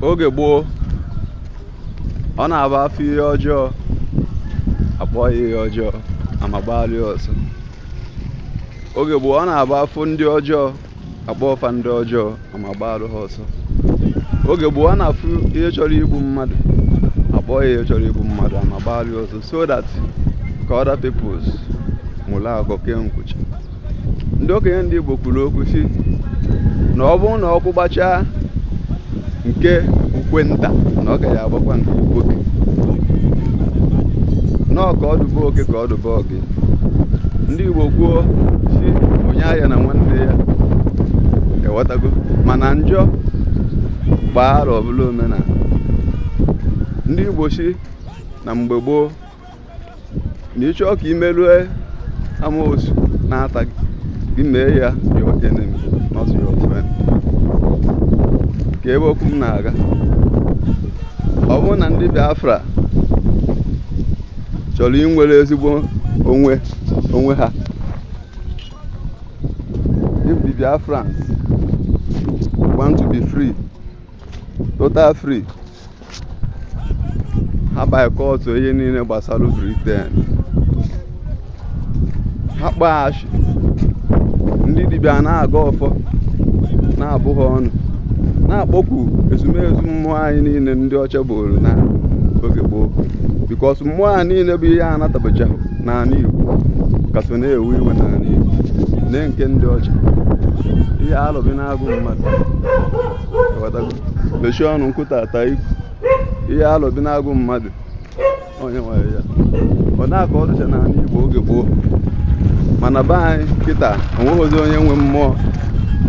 oge gboo ọ na-abụ afụ ihe ọjọọ akpọọ ya ihe ọjọọ ama gbaalụ ya ọsọ oge gboo ọ na-abụ afụ ndị ọjọọ akpọọ fa ndị ọjọọ ama gbaalụ ha ọsọ oge gboo ọ na-afụ ihe chọrọ igbu mmadụ akpọọ ya ihe chọrọ igbu mmadụ ama gbaalụ ya ọsọ so that ka other peoples mụla akọ kee nkwụcha ndị okenye ndị Igbo kwuru okwu sị na ọ bụrụ na ọkụ gbachaa nke ukwe nta na ọ gaghị agbakwa nke ukwe oke nọọ ka ọdụbụ oke ka ọdụbụ oke ndị Igbo kwuo sị onye aghana nwanne ya ịghọtago mana njọ gbaa arọ ọ bụrụ omenala ndị Igbo sị na mgbe gboo na ị chọọ ka i merue amoosu na-ata gị mee ya your enemy not your friend kee ebe okwu m na-aga ọ bụrụ na ndị Biafra chọrọ inwere ezigbo onwe onwe ha if the Biafrans want to be free total free ha boycott ihe niile gbasara Britain ha kpọghachi ndị dibịa na-agọ ọfọ na-abụ ha ọnụ na-akpọku ezumezu mmụọ anyị niile ndị ọcha buuru na oge gboo because mmụọ a niile bụ ihe a natabacha n'ala Igbo ka so na-ewe iwe n'ala Igbo na nke ndị ọcha ihe alọbinagụ mmadụ Ịghọtago? mechie ọnụ nkụta ata ikwu ihe alọbinagụ mmadụ onye nwere ya ọ na-akọ ọ dịcha n'ala Igbo oge gboo mana be anyị kịta o nweghịzi onye nwe mmụọ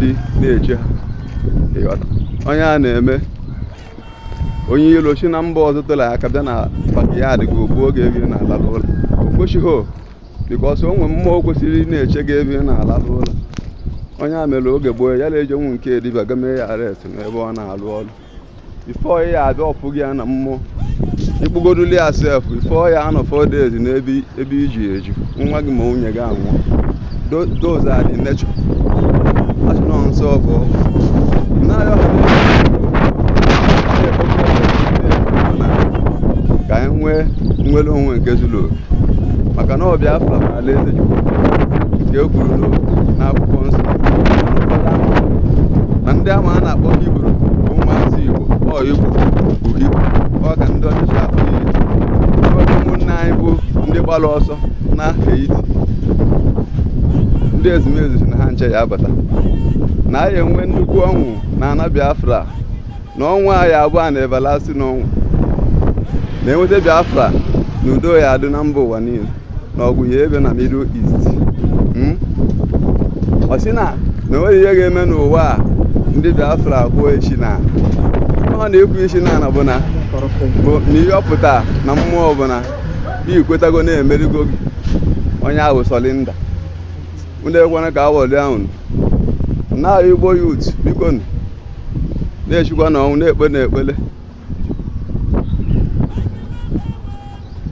dị na-eche ha Ịghọta? onye a na-eme onye ilo si na mba ọzọ tụrụ aka bịa na backyard gị o gbuo gị ebe ị na-alalụ ụla o kwesịghị because o nwere mmụọ kwesịrị ị na-eche gị ebe ị na-alalụ ụla onye a mere oge gboo ya na-ejenwu nke dibịa ga mee ya arrest n'ebe ọ na-alụ ọrụ before ya abịa ọ fụ gị ya na mmụọ ị kpụgoduli ya sef before ya anọ four days n'ebe ebe iji eju nwa gị ma nwunye gị anwụọ Do- those are the nature asị nọ nsọ bụ naanị ọha na-ebe ka anyị nwee nnwere onwe nke zuru oke maka na ọ Biafra bụ alaeze Chukwu nke e kwuru n'akwụkwọ nsọ na ndị ama a na-akpọ Hibru bụ ụmụazị Igbo ọ Igbo bụ Hibru ọ ka ndị ọcha si akpọ ya ụmụnne anyị bụ ndị gbara ọsọ na Haiti ndị ezumezu sị na ha ncha ya abata na anyị enwee nnukwu ọṅụ na ana Biafra na ọṅụ a ya abụ everlasting ọṅụ na e nweta Biafra na udo ya adị na mba ụwa niile na ọgụ ya ebe na Middle East hmm? ọ sị na na onweghị ihe ga-eme n'ụwa a ndị Biafra pụọ echi na ọ na-ekwu isi na ana bụ na bụ na ihe ọ pụta na mmụọ ọ bụ na i kwetago na e merigo gị onye ahụ surrender unu ekwena ka a ghọlịa unu na Igbo youth biko na-esikwanụ ọnwụ na-ekpenụ ekpele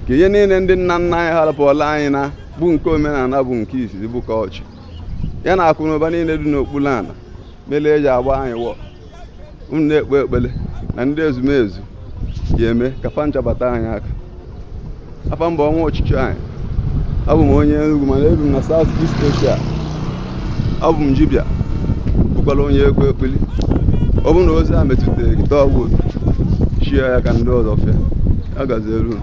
ka ihe niile ndị nna nna anyị harapụọla anyị na bụ nke omenala bụ nke izizi bụ culture ya na akụ na ụba niile dị n'okpuru ala mere e ji agba anyị war unu na-ekpe ekpele na ndị ezumezu ga-eme ka fa ncha bata anyị aka afa m bụ Ọnwa ọchịchị anyị abụ m onye Enugu mana ebi m na South East Asia abụ m dibịa bụkwara onye ekwe ekpili ọ bụrụ na ozi a metụtara gị taa ọgwụ share ya ka ndị ọzọ fụa ya gaziere unu